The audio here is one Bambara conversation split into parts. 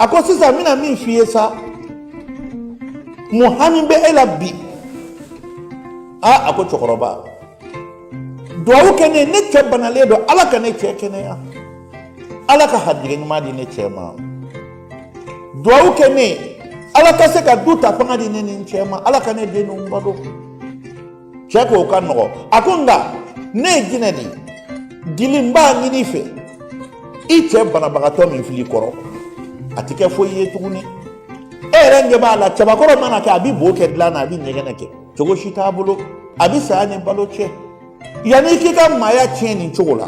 a ko sisan n bɛna min f'i ye sa mun hami bɛ e la bi aa a ko cɛkɔrɔba duwawu kɛ ne ne cɛ banalen don ala ka ne cɛ kɛnɛya ala ka harijigɛ ɲuman di ne cɛ ma duwawu kɛ ne ala ka se ka du ta fanga di ne ni n cɛ ma ala ka ne den ninnu balo cɛ ko o ka nɔgɔ a ko nka ne ye jinɛ de ye dili n b'a ɲini i fɛ i cɛ banabagatɔ min fil'i kɔrɔ a tɛ kɛ foyi ye tuguni e yɛrɛ ɲɛ b'a la cɛbakɔrɔ mana kɛ a bɛ bo kɛ dilan na a bɛ ɲɛgɛnɛ kɛ cogo si t'a bolo a bɛ saya ni balo cɛ yanni i k'i ka maaya tiɲɛ nin cogo la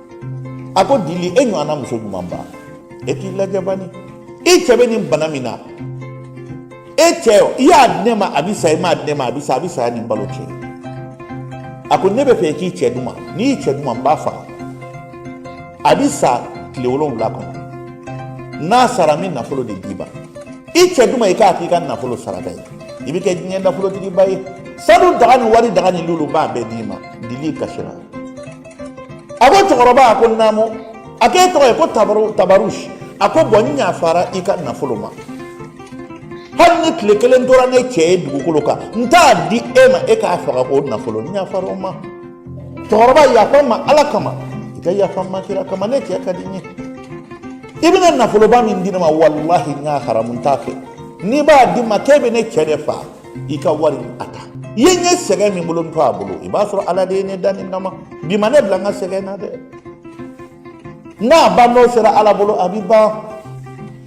a ko dili e ɲɔgɔnna muso ɲumanba e k'i lajɛ bani i cɛ bɛ nin bana min na e cɛ o i y'a di ne ma a bɛ sa i m'a di ne ma a bɛ sa a bɛ saya ni balo cɛ a ko ne b'a fɛ i k'i cɛ di n ma n'i y'i cɛ di n ma n b'a faga a bɛ sa tile wolonwula kɔnɔ n'a sara n bɛ nafolo de d'i ma i cɛ di n ma i k'a k'i ka nafolo saraka ye i bɛ kɛ diɲɛ nafolotigiba ye sanu daga ni wari daga ni lulu n b'a bɛɛ d'i ma dili kasira a ko cɛkɔrɔba a ko naamu a ko e tɔgɔ ye ko tabarusi a ko bɔn n yafara i ka nafolo ma hali ni tile kelen tora ne cɛ ye dugukolo kan n t'a di e ma e k'a faga k'o nafolo n yafara o ma cɛkɔrɔba yafa n ma ala kama i ka yafa n ma kira kama ne cɛ ka di n ye i bɛna nafoloba min di ne ma walahi n y'a haramu n t'a fɛ n'i b'a di n ma k'e bɛ ne cɛ de faa i ka wari a ta i ye n ye sɛgɛn min bolo n to a bolo i b'a sɔrɔ ala de ye ne da nin kama bi ma ne bila n ka sɛgɛn na dɛ n'a ban don sera ala bolo a bi ban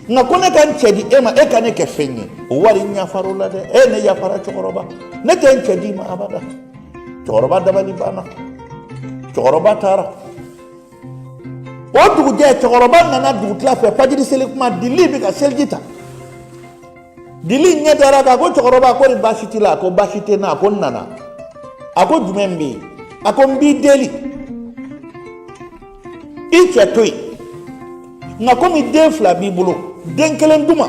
nka ko ne ka n cɛ di e ma e ka ne kɛ fɛn ye o wari n yafara o la dɛ e ne yafara cɛkɔrɔba ne tɛ n cɛ d'i ma abada cɛkɔrɔba dabali banna cɛkɔrɔba taara o dugujɛ cɛkɔrɔba nana dugutila fɛ fajiri seli tuma dili bɛ ka seliji ta dili ɲɛ dara a kan a ko cɛkɔrɔba ko ni baasi t'i la a ko baasi tɛ n na a ko n nana a ko jumɛn bɛ yen a ko n b'i deli i cɛ to yen nka komi den fila b'i bolo den kelen di n ma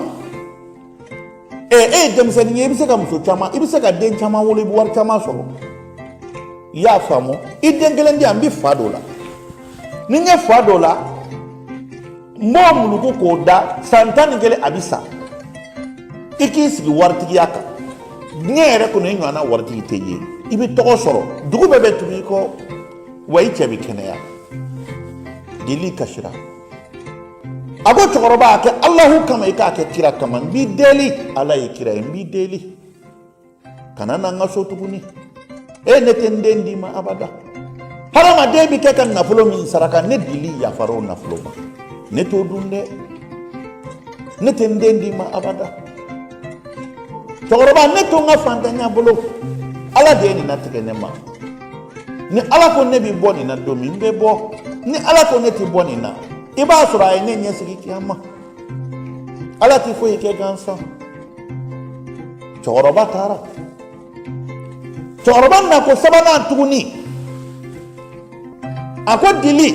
ɛ e ye denmisɛnnin ye i bɛ se ka muso caman i bɛ se ka den caman wolo i bɛ wari caman sɔrɔ i y'a faamu i den kelen di yan n bɛ fa don o la ni n ye fa don o la n b'o muluku k'o da san tan ni kelen a bɛ sa i k'i sigi waritigiya kan diɲɛ yɛrɛ kɔnɔ i ɲɔgɔnna waritigi tɛ ye i bɛ tɔgɔ sɔrɔ dugu bɛɛ bɛ tugu i kɔ wa i cɛ bɛ kɛnɛya dili kasira a ko cɛkɔrɔba a kɛ alahu kama i k'a kɛ kira kama n b'i deli ala ye kira ye n b'i deli kana na n ka so tuguni e ne tɛ n den d'i ma abada hadamaden bɛ kɛ ka nafolo min saraka ne dili yafara o nafolo ma ne t'o dun dɛ ne tɛ n den d'i ma abada cɛkɔrɔba ne to n ka fantanya bolo ala de ye nin latigɛ ne ma ni ala ko ne bɛ bɔ nin na don min n bɛ bɔ ni ala ko ne tɛ bɔ nin na i b'a sɔrɔ a ye ne ɲɛsigi kiyama ala tɛ foyi kɛ gansan cɛkɔrɔba taara cɛkɔrɔba na ko sabanan tuguni a ko dili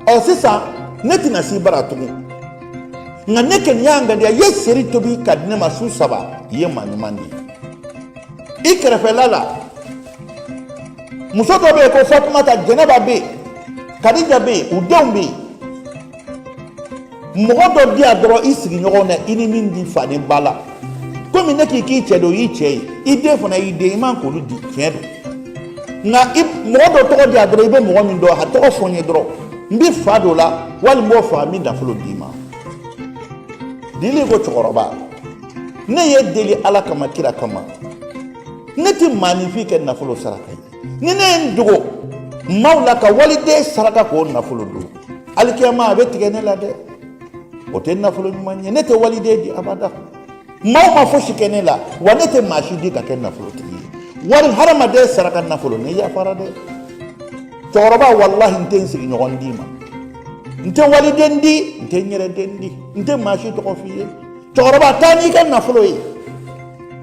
ɔ sisan ne tɛna s'i bara tugun nka ne kɔni y'a ŋaniya i ye seri tobi ka di ne ma su saba i ye maa ɲuman de ye i kɛrɛfɛla la muso dɔ bɛ yen ko fatumata jɛnɛba bɛ yen kadija bɛ yen u denw bɛ yen mɔgɔ dɔ di yan dɔrɔn i sigiɲɔgɔn na i ni min tɛ fa ni ba la komi ne k'i k'i cɛ di o y'i cɛ ye i den fana y'i den i man k'olu di tiɲɛ don nka mɔgɔ dɔ tɔgɔ di yan dɔrɔn i bɛ mɔgɔ min dɔn a tɔgɔ fɔ n ye dɔrɔn n bɛ fa don a la wali n b'o faa n bɛ nafolo d'i ma dili ko cɛkɔrɔba ne ye deli ala kama kira kama ne tɛ maanifin kɛ nafolo saraka ye ni ne ye n dogo maaw la ka waliden saraka k'o nafolo dun alikiyama a bɛ tigɛ ne la dɛ o tɛ nafolo ɲuman ye ne tɛ waliden di abada maaw ma fosi kɛ ne la wa ne tɛ maa si di ka kɛ nafolotigi ye wari hadamaden saraka nafolo ne yafara dɛ cɛkɔrɔba walahi n tɛ n sigiɲɔgɔn d'i ma n tɛ waliden di n tɛ n yɛrɛ den di n tɛ maa si tɔgɔ f'i ye cɛkɔrɔba taa n'i ka nafolo ye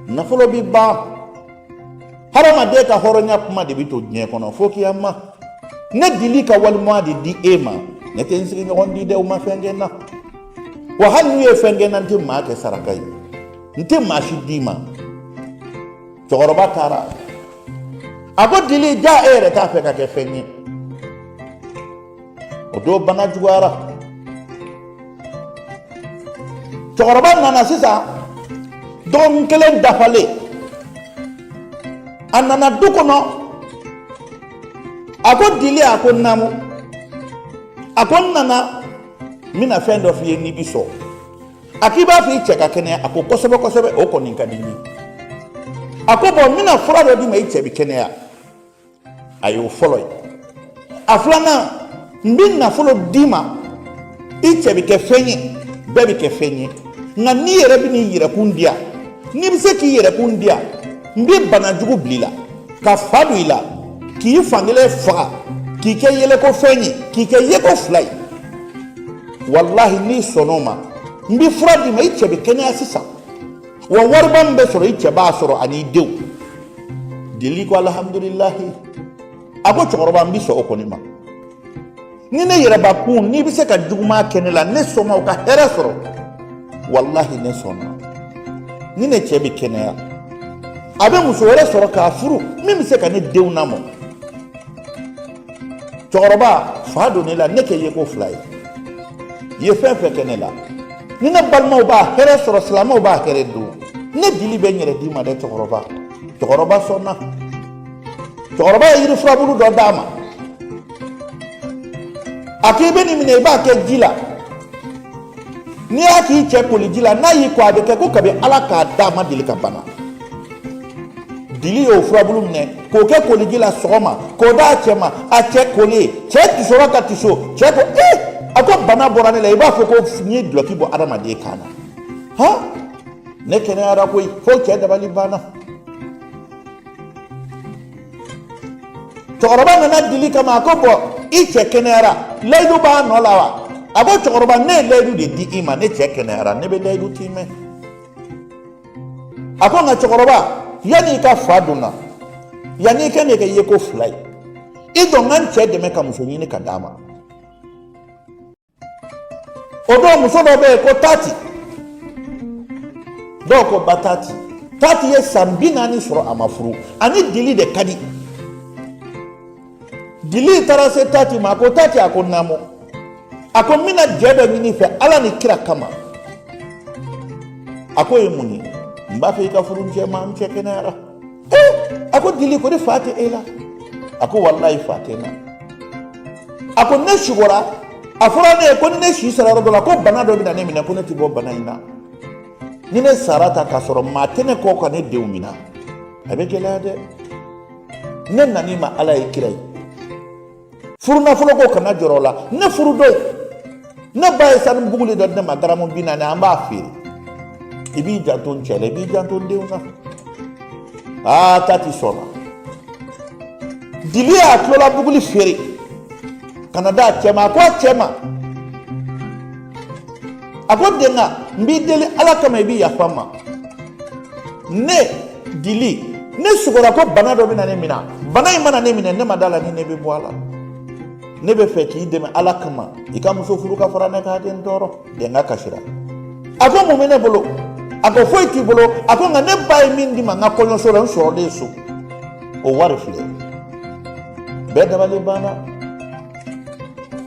nafolo bɛ ban hadamaden ka hɔrɔnya kuma de bɛ to diɲɛ kɔnɔ fo kiyama ne dili ka walimaa de di e ma ne tɛ n sigiɲɔgɔn di dɛ u ma fɛn kɛ n na wa hali n'u ye fɛn kɛ n na n tɛ maa kɛ saraka ye n tɛ maa si d'i ma cɛkɔrɔba taara a ko dili ja e yɛrɛ t'a fɛ ka kɛ fɛn ye o don bana juguyara cɛkɔrɔba nana sisan dɔgɔkun kelen dafalen a nana du kɔnɔ a ko dili a ko naamu a ko n nana n bɛna fɛn dɔ f'i ye n'i bi sɔn a k'i b'a fɛ i cɛ ka kɛnɛya a ko kosɛbɛ kosɛbɛ o kɔni ka di n ye a ko bɔn n bɛna fura dɔ d'i ma i cɛ bi kɛnɛya a y'o fɔlɔ ye a filanan n bɛ nafolo d'i ma i cɛ bɛ kɛ fɛn ye bɛɛ bɛ kɛ fɛn ye nka n'i yɛrɛ bɛn'i yɛrɛkun di yan n'i bɛ se k'i yɛrɛkun di yan n bɛ bana jugu bila i la ka fa don i la k'i fankelen faga k'i kɛ yɛlɛko fɛn ye k'i kɛ yeko fila ye walahi n'i sɔnn'o ma n bɛ fura d'i ma i cɛ bɛ kɛnɛya sisan wa wariba min bɛ sɔrɔ i cɛ b'a sɔrɔ an'i denw dili ko alhamdulilahi a ko cɛkɔrɔba n bɛ sɔn o kɔni ma ni ne yɛrɛbakun n'i bɛ se ka juguman kɛ ne la ne sɔnna o ka hɛrɛ sɔrɔ walahi ne sɔnna ni ne cɛ bɛ kɛnɛya a bɛ muso wɛrɛ sɔrɔ k'a furu min bɛ se ka ne denw lamɔ cɛkɔrɔba fa don ne la ne kɛ yeko fila ye i ye fɛn fɛn kɛ ne la ni ne balimaw b'a hɛrɛ sɔrɔ silamɛw b'a hɛrɛ don ne dili bɛ n yɛrɛ d'i ma dɛ cɛkɔrɔba cɛkɔrɔba sɔnna cɛkɔrɔba ye yiri furabulu dɔ d'a ma a ko i bɛ nin minɛ i b'a kɛ ji la n'i y'a k'i cɛ koliji la n'a y'i ko a bɛ kɛ ko kabi ala k'a da a ma deli ka bana dili y'o furabulu minɛ k'o kɛ koliji la sɔgɔma k'o d'a cɛ ma a cɛ kolen cɛ tisora ka tiso cɛ ko ee eh! a ko bana bɔra ne la i b'a fɔ ko n ye dulɔki bɔ adamaden kan na han ne kɛnɛyara koyi fo cɛ dabali banna cɛkɔrɔba nana dili kama a ko bɔn i cɛ kɛnɛyara layidu b'a nɔ la wa a ko cɛkɔrɔba ne ye layidu de di i ma ne cɛ kɛnɛyara ne bɛ layidu tiimɛ a ko nka cɛkɔrɔba yanni i ka fa don n na yanni i ka ne kɛ yeko fila ye i dɔ n ka n cɛ dɛmɛ ka muso ɲini ka d'a ma o dɔw muso dɔ bɛ yen ko tati dɔw ko ba tati tati ye san bi naani sɔrɔ a ma furu a ni dili de ka di dili taara se tati ma a ko tati a ko naamu a ko n bɛna jɛ dɔ ɲini i fɛ ala ni kira kama a k'o ye mun ye n b'a fɛ i ka furu n cɛ ma n cɛ kɛnɛyara a ko dili ko di fa tɛ e la a ko walayi fa tɛ n na a ko ne sugora a fɔra ne ye ko ne si sara yɔrɔ dɔ la ko bana dɔ bɛna ne minɛ ko ne tɛ bɔ bana in na ni ne sara tan k'a sɔrɔ maa tɛ ne kɔ ka ne denw minɛ a bɛ gɛlɛya dɛ ne nan'i ma ala ye kira ye furu nafolo ko kana jɔrɔ o la ne furu don ne ba ye sanu buguli dɔ di ne ma garamu bi naani an b'a feere i b'i janto n cɛ la i b'i janto n denw kan aa tati sɔnna dili y'a tulola buguli feere ka na d'a cɛ ma a ko a cɛ ma a ko denga n b'i deli ala kama i bɛ yafa n ma ne dili ne sugora ko bana dɔ bɛna ne minɛ bana in mana ne minɛ ne ma da la ni ne bɛ bɔ a la ne b'a fɛ k'i dɛmɛ ala kama i ka muso furu ka fara ne kan den tɔɔrɔ denga kasira a ko mun bɛ ne bolo a ko foyi t'i bolo a ko nka ne ba ye min di n ma n ka kɔɲɔso la n sɔrɔlen so o wari filɛ bɛɛ dabali banna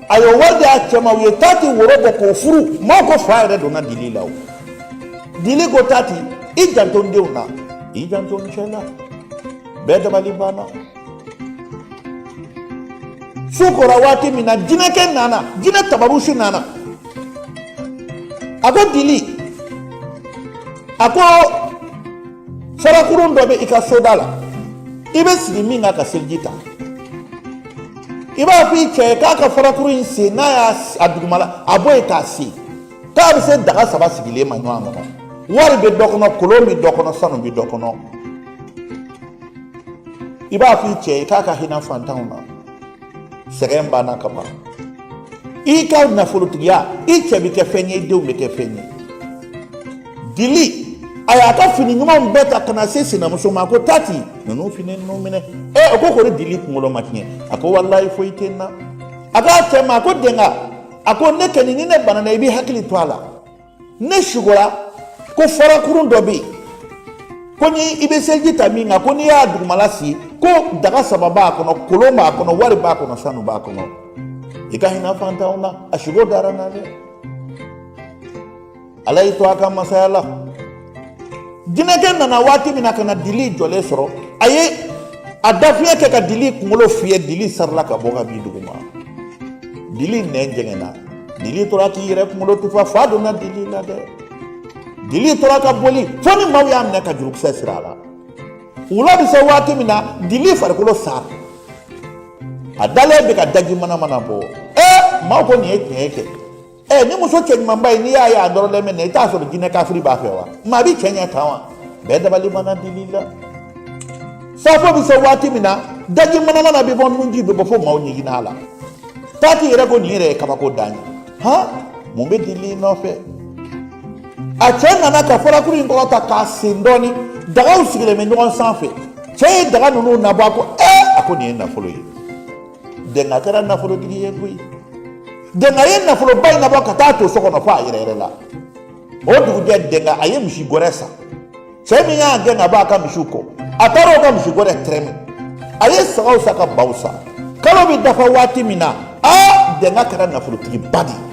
a ye wari di a cɛ ma u ye tati woro bɔ k'o furu maaw ko fa yɛrɛ donna dili la o dili ko tati i janto n denw na i janto n cɛ la bɛɛ dabali banna su kora waati min na jinɛkɛ nana jinɛ tabarusi nana a ko dili a ko farakurun dɔ bɛ i ka soda la i bɛ sigi min kan ka seliji ta i b'a fɔ i cɛ ye k'a ka farakuru in sen n'a y'a a dugumala a bɔ yen k'a sen k'a bɛ se daga saba sigilen ma ɲɔgɔn kɔnɔ wari bɛ dɔ kɔnɔ kolon bɛ dɔ kɔnɔ sanu bɛ dɔ kɔnɔ i b'a fɔ i cɛ ye k'a ka hinɛ fantanw na sɛgɛn banna ka ban i ka nafolotigiya i cɛ bɛ kɛ fɛn ye i denw bɛ kɛ fɛn ye dili a y'a ka fini ɲumanw bɛɛ ta ka na se sinamuso ma ko tati ninnu fini ninnu minɛ ɛ o ko kori dili kunkolo ma tiɲɛ a ko walayi foyi tɛ n na a k'a cɛ ma a ko denga a ko ne kɛni ni ne banana i b'i hakili to a la ne sugora ko farakurun dɔ bɛ yen ko ne bɛ seliji ta min kan ko n'i y'a dugumala sen ko daga saba b'a kɔnɔ kolon b'a kɔnɔ wari b'a kɔnɔ sanu b'a kɔnɔ i ka hinɛ fantanw na a sugo dara n na dɛ ala y'i to a ka masaya la jinɛkɛ nana waati min na ka na dili jɔlen sɔrɔ a ye a dafiɲɛ kɛ ka dili kunkolo fiyɛ dili sarila ka bɔ ka bin duguma dili nɛn jɛngɛnna dili tora k'i yɛrɛ kunkolo tufa fa donna dili la dɛ dili tora ka boli fo ni maaw y'a minɛ ka jurukisɛ siri a la wula bɛ se waati min na dili farikolo sara a dalen bɛ ka daji manamana bɔ ee maaw ko nin ye tiɲɛ ye kɛ ɛ ni muso cɛɲumanba ye n'i y'a ye a nɔrɔlen bɛ na i t'a sɔrɔ jinɛ kafiri b'a fɛ wa maa bɛ cɛɲɛ tan wa bɛɛ dabali banna dili la safo bɛ se waati min na daji manamana bɛ bɔ nunji bɛ bɔ fo maaw ɲiginna a la tati yɛrɛ ko nin yɛrɛ ye kabako dan ye han mun bɛ dili nɔfɛ a cɛ nana ka farakuru in kɔrɔta k'a sen dɔɔni dagaw sigilen bɛ ɲɔgɔn sanfɛ cɛ ye daga ninnu nabɔ a ko ɛ a ko nin ye nafolo ye denga kɛra nafolotigi ye koyi denga ye nafoloba in nabɔ ka taa to so kɔnɔ fo a yɛrɛyɛrɛla o dugujɛ denga a ye misi gɔrɛ san cɛ min y'a gɛn ka bɔ a ka misiw kɔ a taara o ka misi gɔrɛ tɛrɛmɛ a ye sagaw san ka baw san kalo bɛ dafa waati min na aa denga kɛra nafolotigiba de ye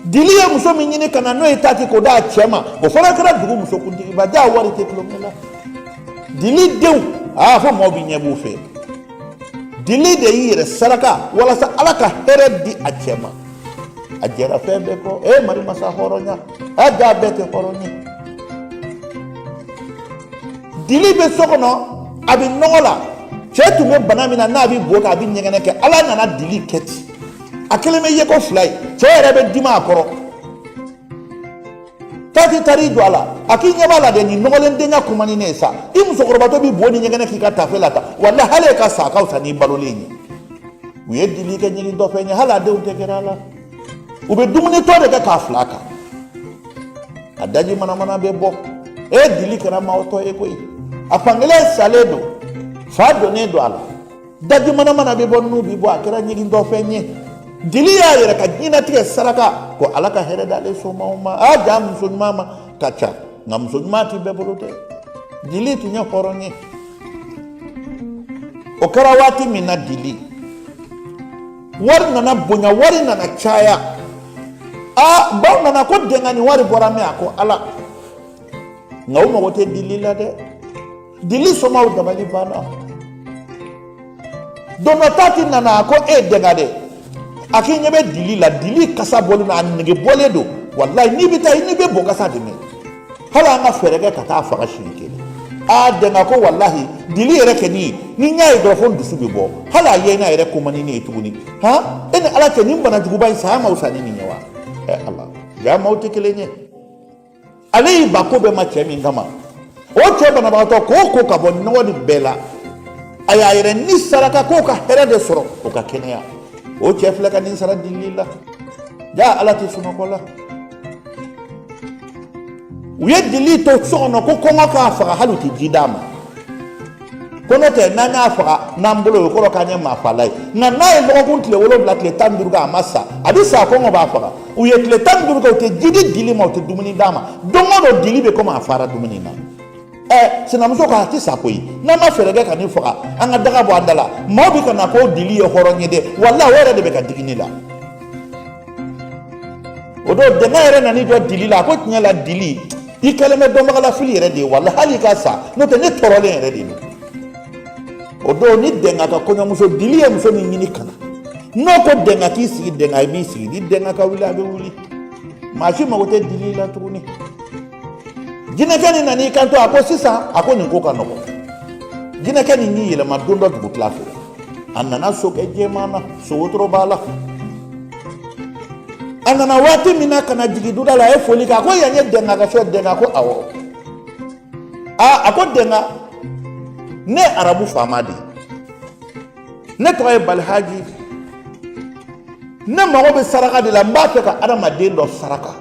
dili ye muso min ɲini ka na n'o ye tati k'o d'a cɛ ma o fana kɛra dugu musokuntigiba jaa wari tɛ tulonkɛ la dili denw aa fo mɔgɔ b'i ɲɛ b'u fɛ dili de y'i yɛrɛ saraka walasa ala ka hɛrɛ di a cɛ ma a jɛra fɛn bɛɛ kɔ e mari masa hɔrɔnya a jaa bɛɛ tɛ hɔrɔn ye dili bɛ so kɔnɔ a bɛ nɔgɔ la cɛ tun bɛ bana min na n'a bɛ bo kɛ a bɛ ɲɛgɛnɛ kɛ ala nana dili kɛ ten a kɛlen bɛ yeko fila ye cɛ yɛrɛ bɛ dimi a kɔrɔ tati taar'i jɔ a la a k'i ɲɛ b'a la dɛ nin nɔgɔlen dɛnga kuma ni ne ye sa i musokɔrɔbatɔ b'i bo ni ɲɛgɛnɛ k'i ka tafe la tan wala hali e ka sa ka fisa n'i balolen ye u ye dili kɛ ɲigintɔfɛn ye hali a denw tɛ gɛrɛ a la u bɛ dumuni tɔ de kɛ k'a fil'a kan a daji manamana bɛ bɔ e dili kɛra maatɔ ye koyi a fankelen salen don fa donnen don a la daji manamana bɛ bɔ nun bɛ bɔ a kɛra ɲigintɔfɛn ye dili y'a yɛrɛ ka diɲɛnatigɛ saraka ko ala ka hɛrɛ d'ale somaw ma a jaa muso ɲuman maa ka ca nka muso ɲuman tɛ bɛɛ bolo dɛ dili tun ye hɔrɔn ye o kɛra waati min na dili wari nana bonya wari nana caya a baw nana ko dɛnga nin wari bɔra min a ko ala nka u mago tɛ dili la dɛ dili somaw dabali banna don dɔ tati nana a ko e dɛnga dɛ a k'i ɲɛ bɛ dili la dili kasa bɔlen don a nege bɔlen don walayi n'i bɛ taa n'i bɛ bo kasa de mɛn hali an ka fɛɛrɛ kɛ ka taa a faga siɲɛ kelen a dɛnga ko walahi dili yɛrɛ kɔni ni n y'a ye dɔrɔn fo n dusu bɛ bɔ hali a ye n'a yɛrɛ ko man di ne ye tuguni han e ni ala cɛ nin bana juguba in saya ma fisa ni nin ye wa ɛ ala jaa maaw tɛ kelen ye ale y'i ban ko bɛɛ ma cɛ min kama o cɛ banabagatɔ k'o ko ka bɔ nɔgɔ nin bɛɛ la a y'a yɛrɛ ni saraka k'o ka hɛrɛ de sɔrɔ o ka kɛnɛya o cɛ filɛ ka nin sara dili la jaa ala tɛ sunɔgɔ la u ye dili to so kɔnɔ ko kɔngɔ k'a faga hali u tɛ ji d'a ma ko n'o tɛ n'an y'a faga n'an bolo ye o kɔrɔ k'an ye maafala ye nka n'a ye dɔgɔkun tile wolonwula tile tan ni duuru kɛ a ma sa a bɛ sa kɔngɔ b'a faga u ye tile tan ni duuru kɛ u tɛ ji di dili ma u tɛ dumuni d'a ma don o don dili bɛ komi a fara dumuni na ɛ sinamuso ko a tɛ sa koyi n'an ma fɛɛrɛ kɛ ka nin faga an ka daga bɔ an da la maaw bɛ ka na ko dili ye hɔrɔn ye dɛ wala o yɛrɛ de bɛ ka digi ne la o don dɛnga yɛrɛ nana i jɔ dili la a ko tiɲɛ la dili i kɛlen bɛ dɔnbagalafili yɛrɛ de ye wala hali i ka sa n'o tɛ ne tɔɔrɔlen yɛrɛ de don o don ni dɛnga ka kɔɲɔmuso dili ye muso min ɲini ka na n'o ko dɛnga k'i sigi dɛnga b'i sigi ni dɛnga ka wuli a bɛ wuli maa si mago tɛ dili la tuguni jinɛkɛ nin nan'i kanto a ko sisan a ko nin ko ka nɔgɔn jinɛkɛ nin y'i yɛlɛma don dɔ dugutila fɛ a nana sokɛ jɛman na sowotoro b'a la a nana waati min na ka na jigin duda la a ye foli kɛ a ko yan ye dɛnga ka fɛn dɛnga ko awɔ aa a ko dɛnga ne ye arabu faama de ye ne tɔgɔ ye balihaji ne mago bɛ saraka de la n b'a fɛ ka adamaden dɔ saraka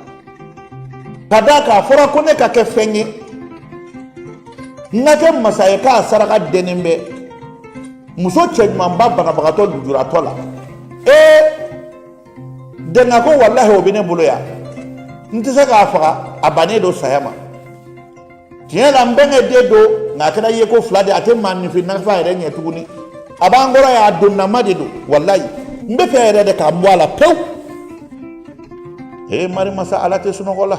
ka d'a kan a fɔra ko ne ka kɛ fɛn ye n ka kɛ masa ye k'a saraka dɛnnen bɛ muso cɛɲumanba banabagatɔ lujuratɔ la ee dɛnga ko walahi o bɛ ne bolo yan n tɛ se k'a faga a bannen don saya ma tiɲɛ la n bɛnkɛ den don nka a kɛra ye ko fila de a tɛ maaninfin nafa yɛrɛ ɲɛ tuguni a b'an kɔrɔ yan a donnama de don walayi n b'a fɛ yɛrɛ de k'a bɔ a la pewu ee marimasa ala tɛ sunɔgɔ la